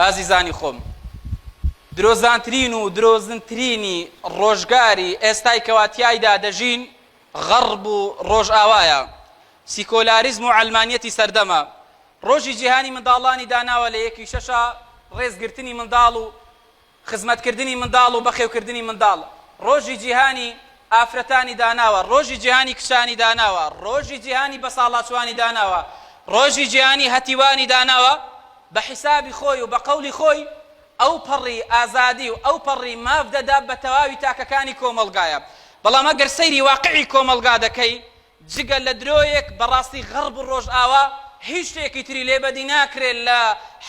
ئازیزانی خۆم درۆزانترین و درۆزنترینی ڕۆژگاری ئێستای کەوا تیایدا دەژین غەڕب و ڕۆژئاوایە سیکۆلاریزم و عەلمانیەتی سەردەمە ڕۆژی جیهانی منداڵانی داناوە لە یەکی شەشە ڕێزگرتنی منداڵ و خزمەتکردنی منداڵ و بەخێوکردنی منداڵ ڕۆژی جیهانی ئافرەتانی داناوە، ڕۆژی جیهانی کچانی داناوە، ڕۆژی جیهانی بەساڵاچووانی داناوە، ڕۆژی جیهانی هەتیوانی داناوە، بە حیسابی خۆی و بە قەولی خۆی ئەوپەڕی ئازادی و ئەوپەڕی ماف دەدا بە تەواوی تاکەکانی کۆمەڵگایە، بەڵام ئەگەر سەیری واقعی کۆمەڵگا دەکەی جگە لە درۆیەک بەڕاستی غەڕب و ڕۆژئاوا هیچ شتێکی تری لێ بەدی ناکرێت لە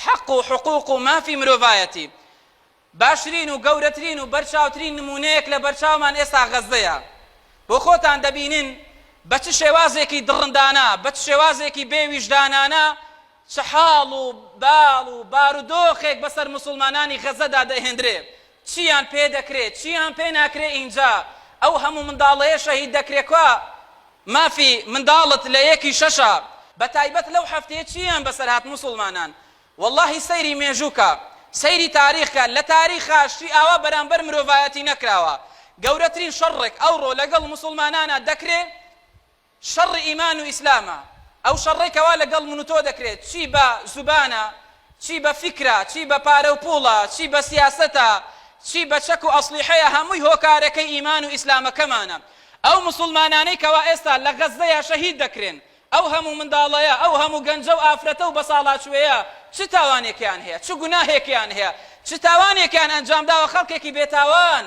حەق و حقوق و مافی مرۆڤایەتی باشترین و گەورەترین و بەرچاوترین نمونەیەک لە بەرچاومان ئێستا غەزەیە بۆ خۆتان دەبینن بە چ شێوازێکی دڕندانە بە چ شێوازێکی بێ ویژدانانە چ حاڵ و باڵ و بارودۆخێک بەسەر موسوڵمانانی غەزەدا دەهێندرێ، چییان پێ دەکرێ، چییان پێ ناکرێ ئینجا ئەو هەموو منداڵەیە شەهید دەکرێ کوا مافی منداڵت لە یەکی شەشا بە تایبەت لەو هەفتەیە چییان بەسەر هات موسوڵمانان وەڵاهی سەیری مێژوو کە سەیری تاریخ کە لە تاریخا شتی ئاوا بەرامبەر مرۆڤایەتی نەکراوە گەورەترین شەڕڕێک ئەوڕۆ لەگەڵ موسوڵمانانا دەکرێ شەڕ ئیمان و ئیسلامە ئەو شەڕەی کەوا لەگەڵ من و تۆ دەکرێت چی بە زوبانە چی بە فیکرە چی بە پارە و پوڵە چی بە سیاسەتە چی بە چەک و ئەسڵیحەیە هەمووی هۆکارەکەی ئیمان و ئیسلامەکەمانە ئەو موسڵمانانەی کەوا ئێستا لە غەزەیا شەهید دەکرێن ئەو هەموو منداڵەیە ئەو هەموو گەنجە و ئافرەتە و بەساڵاچووەیە چ تاوانێکیان هەیە چ گوناهێکیان هەیە چ تاوانێکیان ئەنجام داوە خەڵکێکی بێتاوان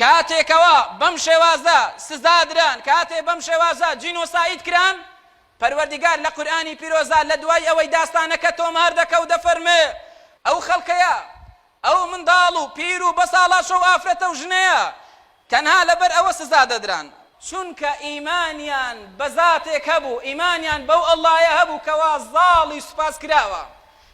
کاتێکەوە بەم شێوازە سزا دران، کاتێ بەم شێوازە جینۆساید کران، پەروەردیگار لە قورئانی پیرۆزا لە دوای ئەوەی داستانەکە تۆمار دەکا و دەفەرمێ، ئەو خەڵکەیە، ئەو منداڵ و پیر و بەساڵاچۆ و ئافرەتە و ژنەیە، تەنها لەبەر ئەوە سزا دەدران، چونکە ئیمانیان بە زاتێک هەبوو، ئیمانیان بەو اللە یە هەبوو کەوا زاڵی سوپاس کراوە،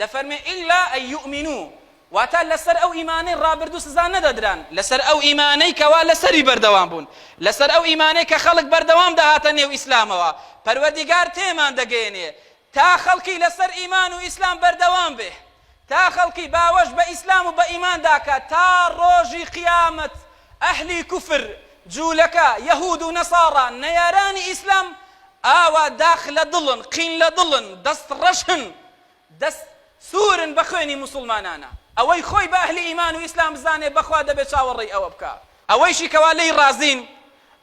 دەفەرمێ، الا ان یومنو، واتە لەسەر ئەو ئیمانەی ڕابردوو سزا نەدەدران، لەسەر ئەو ئیمانەی کەوا لەسەری بەردەوام بوون، لەسەر ئەو ئیمانەی کە خەڵک بەردەوام دەهاتە نێو ئیسلامەوە، پەروەردیگار تێمان دەگەیەنێ تا خەڵکی لەسەر ئیمان و ئیسلام بەردەوام بێ، تا خەڵکی باوەش بە ئیسلام و بە ئیماندا کات تا ڕۆژی قیامەت ئەهلی کوفر، جولەکە، یەهود و نەساڕا، نەیارانی ئیسلام ئاوا داخ لە دڵن، قین لە دڵن، دەست ڕەشن، دەست سوورن بە خوێنی موسوڵمانانا. ئەوەی خۆی بە ئەهلی ئیمان و ئیسلام بزانێ بەخوا دەبێ چاوەڕێی ئەوە بکا. ئەوەیشی کەوا لێی ڕازین،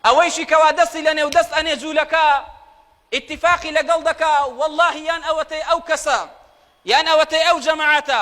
ئەوەیشی کەوا دەستی لە نێو دەست ئەنێ جولەکە، ئیتیفاقی لەگەڵ دەکا، وەڵڵاهی یان ئەوەتەی ئەو کەسە، یان ئەوەتەی ئەو جەماعەتە،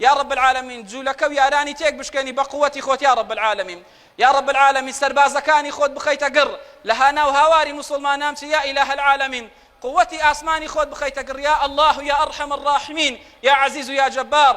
یا رب العالمین جولەکە و یارانی تێک بشکێنی بە قوەتی خۆت یا رب العالمین یا رب العالمین سەربازەکانی خۆت بخەیتە گڕ لە هانا و هاواری موسڵمانان بچی یا الە العالمین قوەتی ئاسمانی خۆت بخەیتە گڕ یا اللە یا ارحم الراحمین یا عزیز یا جبار